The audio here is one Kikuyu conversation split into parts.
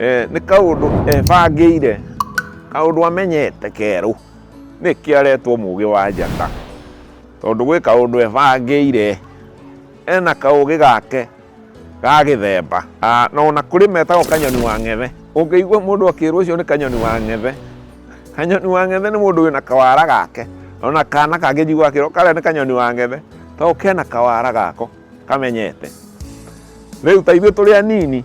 Eh, nĩ kaũndũ ebangĩire kaũndũ amenyete kerũ nĩkĩ aretwo mũgĩ wa njata tondũ gwĩ kaũndũ ebangĩire ena kaũgĩ gake ga gĩthemba Ah, na ona kũrĩ metagwo kanyoni wa ng'ethe ũngĩigua mũndũ akĩrwo ũcio nĩ kanyoni wa ng'ethe kanyoni wa ng'ethe nĩ mũndũ wĩna kawara gake ona kana kangĩ njigua akĩrwo karĩa nĩ kanyoni wa ng'ethe tondũ kena kawara gako kamenyete rĩu ta ithuĩ tũrĩ anini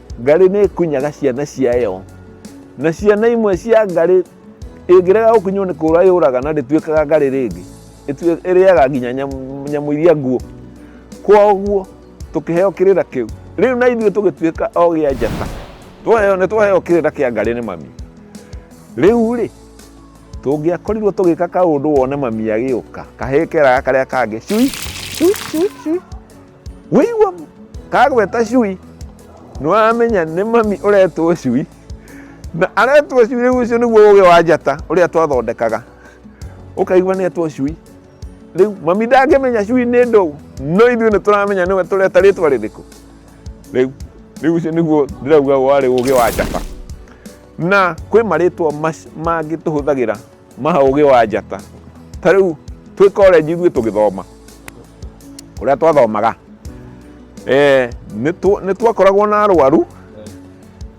Ngarĩ nĩ ĩkunyaga ciana ciayo, na ciana imwe cia ngarĩ ĩngĩrega gũkunywo nĩ kũũra yũraga na ndĩtuĩkaga ngarĩ rĩngĩ, ĩrĩaga nginya nyamũ iria nguũ. Kwoguo tũkĩheo kĩrĩra kĩu, rĩu na ithuĩ tũgĩtuĩka ogĩ a njata, nĩ twaheo kĩrĩra kĩa ngarĩ nĩ mami. Rĩu rĩ, tũngĩakorirwo tũgĩka kaũndũ wone mami agĩũka, kahĩĩ keraga karĩa kangĩ cui, cui, cui, cui. Waigua kagweta cui nĩwamenya nĩ mami ũretwo cui na aretwo cui rĩu ũcio nĩguo ũgĩ wa njata ũrĩa twathondekaga ũkaigua nĩ etwo cui rĩu mami ndangĩmenya cui nĩ ndũũ no ithuĩ nĩ tũramenya nĩwe tũreta rĩtwa rĩrĩkũ rĩu rĩu ũcio nĩguo ndĩrauga warĩ ũgĩ wa njata na kwĩ marĩtwa mangĩ tũhũthagĩra ma ũgĩ wa njata ta rĩu twĩ college ithuĩ tũgĩthoma ũrĩa twathomaga eh, nĩ twakoragwo na arwaru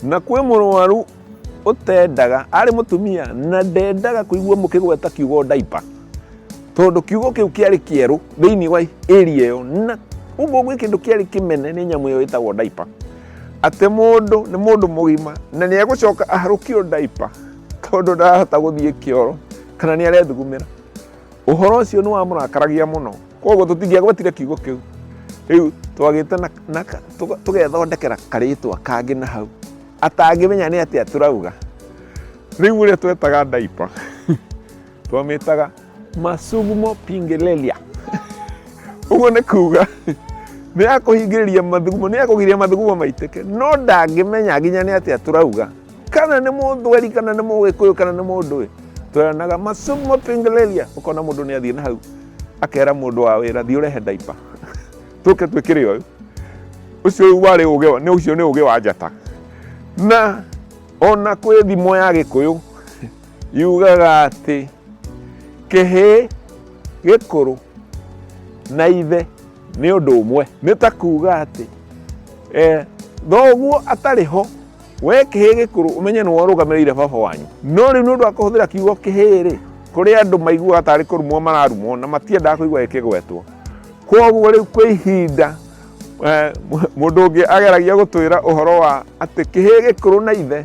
na kwĩ mũrwaru ũtendaga arĩ mũtumia na ndendaga kũigua mũkĩgweta kiugo ndaipa tondå kiugo kä u kä arä kä erå thä inä wa area ä yo na uguo gwä kä ndå kä arä kä mene nä nyamå ä yo ä tagwo ndaipa atä må ndå nä må ndå må gima na nä egå coka aharå kio ndaipa tondũ ndarahota gũthiĩ kĩoro kana nĩ arethugumĩra ũhoro ũcio nĩ wamũrakaragia mũno koguo tũtingĩagwetire kiugo kĩu rĩu twagĩte tũgethondekera karĩtwa kangĩ na hau atangĩmenya nĩ atĩa tũrauga rĩu ũrĩa twetaga ndaipa twamĩtaga masugumo pingelelia ũguo nĩ kuga nĩ ya kũhingĩrĩria mathugumo nĩ ya kũgiria mathugumo maitĩke no ndangĩmenya nginya nĩ atĩa tũrauga kana nĩ mũthweri kana nĩ mũgĩkũyũ kana nĩ mũndũ ĩ tweranaga masugumo pingelelia ũkona mũndũ nĩ athiĩ na hau akera mũndũ wa wĩra thiĩ ũrehe ndaipa tũke twĩkĩre ũyũ ũcio warĩ ũgĩ wa- nĩ ũcio nĩ ũgĩ wa njata na ona kwĩ thimo ya gĩkũyũ Yugaga atĩ kĩhĩĩ gĩkũrũ na ithe nĩ ũndũ ũmwe. Nĩ ta kuuga atĩ eh, thoguo atarĩ ho we kĩhĩĩ gĩkũrũ ũmenye nĩwe ũrũgamĩrĩire baba wanyu no rĩu nĩ ũndũ wa kũhũthĩra kiugo kĩhĩĩ rĩ kũrĩ andũ maiguaga tarĩ kũrumwo mararumwo na matiendaga kũigua gĩkĩgwetwo koguo rĩu kwĩ ihinda eh, mũndũ ũngĩ ageragia gũtwĩra ũhoro wa atĩ kĩhĩĩ gĩkũrũ na ithe